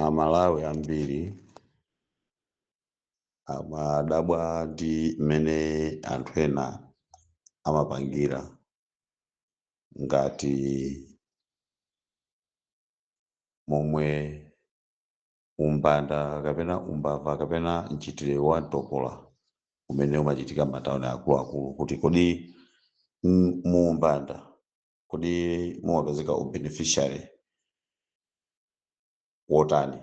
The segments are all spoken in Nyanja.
aMalawi ambiri amadabwa ndi mmene anthu ena amapangira ngati momwe umbanda kapena umbava kapena mchitidwe wa mtopola umene umachitika m'matauni akuluakulu kuti kodi m- mu umbanda kodi mumapezeka ubeneficiary wotani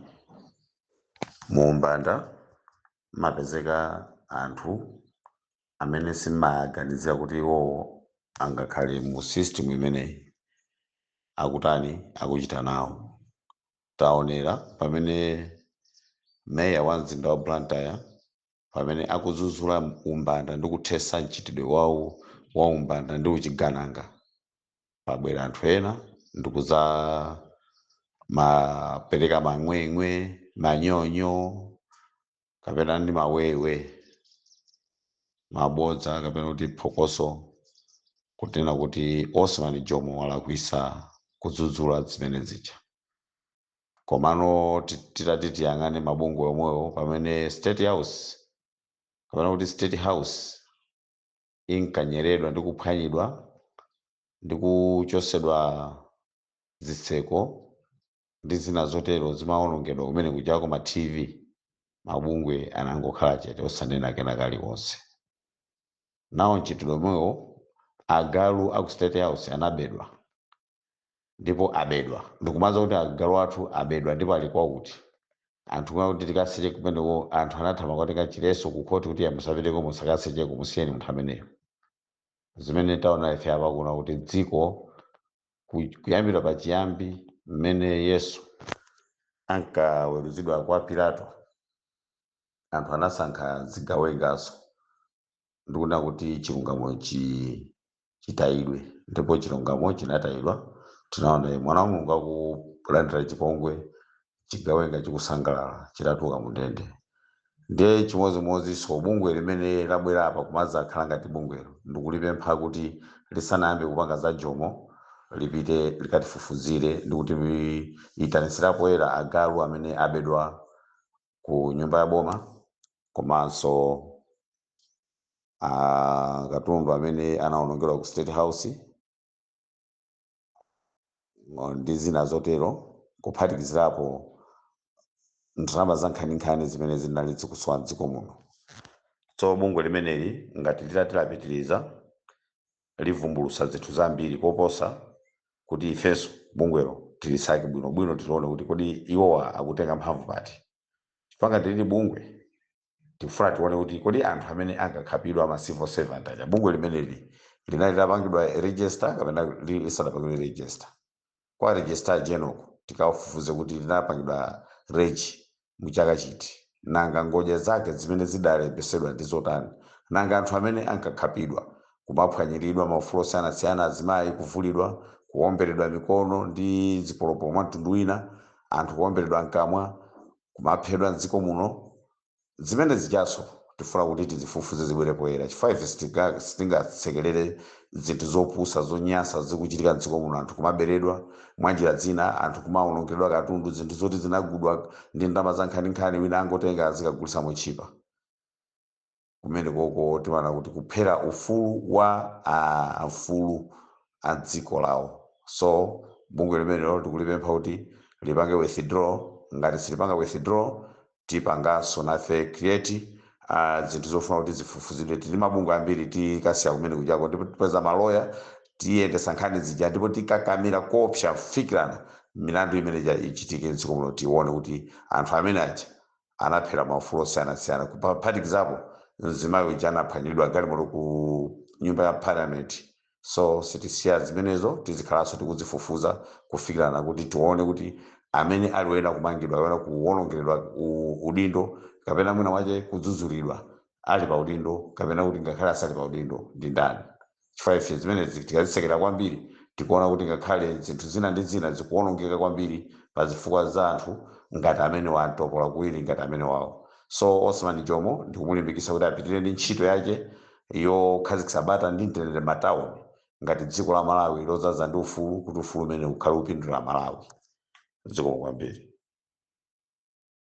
mu umbanda mumapezeka anthu amene simaganizira kuti iwowo angakhale mu system imeneyi akutani akuchita nawo Taonera pamene Mayor wa mzinda wa Blantyre pamene akudzudzula umbanda ndi kuthetsa mchitidwe wa umbanda ndi uchigananga, pabwera anthu ena ndi kudzamapereka mang'weng'we, manyonyo, kapena ndi mawewe mabodza kapena kuti phokoso kutinena kuti Osman Jomo walakwitsa kudzudzula zimene zija komano ti- titati tiyang'ane mabungwe omwewo pamene state house kapena kuti state house inkanyeredwa ndi kuphwanyidwa ndi kuchotsedwa zitseko ndi zina zotero zimawonongedwa kumene kujako ma TV mabungwe anangokhala chete osanena kena kalikonse nawo mchitidwe omwewo agalu aku state house anabedwa ndipo abedwa ndikumaza kuti agalu athu abedwa ndipo ali kwakuti anthu kumene kuti tikaseche kumeneko anthu anathamangira kukatenga chiletso ku khoti kuti musapiteko musakasecheko musiyeni munthu ameneyo zimene taona ife apa kuno kuti dziko ku- kuyambira pachiyambi mmene yesu ankaweruzidwa kwa pilato anthu anasankha zigawengaso ndikunena kuti chilungamo chi chitayidwe ndipo chilungamo chinatayidwa tinaona iye mwana wa mulungu akulandira chipongwe chigawenga chikusangalala chitatuluka mu ndende ndiye chimodzimodzinso bungwe limene labwera apa kumadzakhala ngati bungwelo ndikulipempha kuti lisanayambe kupanga za jomo lipite likatifufuzire ndikutiitanitsira poyera agalu amene abedwa ku nyumba ya boma komanso ah, katundu amene anawonongedwa ku state house ngo- ndi zina zotero kuphatikizirapo ndalama za nkhaninkhani zimene zinali zikusowa mdziko muno so bungwe limeneli ngati litati lapitiriza livumbulutsa zinthu zambiri koposa kuti ifenso bungwelo tilisake bwinobwino tilione kuti kodi iwowa akutenga mphamvu pati chifukwa ngati lili bungwe tikufuna tione kuti kodi anthu amene ankakhapidwa ama civil servant aja bungwe limeneli linali litapangidwa register kapena li- lisanapangidwe register kwa registrar general ko tikafufuze kuti linapangidwa reg mu chaka chiti, nanga ngodya zake zimene zidalembetsedwa ndi zotani, nanga anthu amene ankakhapidwa, kumaphwanyiridwa maufulu osiyanasiyana, azimayi kuvulidwa, kuwomberedwa mikono ndi zipolopolo mwa mtundu wina, anthu kuwomberedwa mkamwa, kumaphedwa m'dziko muno zimene zijaso tifuna kuti tizifufuze zibwere poyera chifukwa ife sitinga- sitingasekerere zinthu zopusa zonyansa zikuchitika mdziko muno anthu kumaberedwa mwa njira zina anthu kumawonongeredwa katundu zinthu zoti zinagudwa ndi ndalama za nkhaninkhani wina angotenga azikagulitsa motchipa kumene kuko timaona kuti kuphera ufulu wa amfulu a dziko lawo so bungwe limenelo tikulipempha kuti lipange withdraw ngati silipanga withdraw tipanganso nafe create ah, zinthu zofuna kuti zifufuzidwe tili ndi mabungwe ambiri tikasiya kumene kujaku ndipo tipeza maloya tiyendesa nkhani zija ndipo tikakamira koopsa kufikirana milandu imene ija ichitike mdziko muno tione kuti anthu amene aja anaphera maufulu osiyanasiyana kuphatikizapo mzimayi uja anaphwanyiridwa galimoto ku nyumba ya parliament so sitisiya zimenezo tizikhalanso tikuzifufuza kufikirana kuti tione kuti amene ali woyenera kumangidwa woyenera kuwonongeredwa u- udindo kapena mwina wache kudzudzulidwa ali pa udindo kapena kuti ngakhale asali pa udindo ndi ndani chifukwa ife zimenezi tikazisekera kwambiri tikuona kuti ngakhale zinthu zina ndi zina zikuwonongeka kwambiri pa zifukwa za anthu ngati amene wa nthupula kuwiri ngati amene wawo so osman jomo ndikumulimbikitsa kuti apitirire ndi ntchito yake yokhazikitsa bata ndi mtendere m'matauni ngati dziko la Malawi lodzaza ndi ufulu kuti ufulu umenewu ukhale ukupindulira Amalawi. Zikomo kwambiri.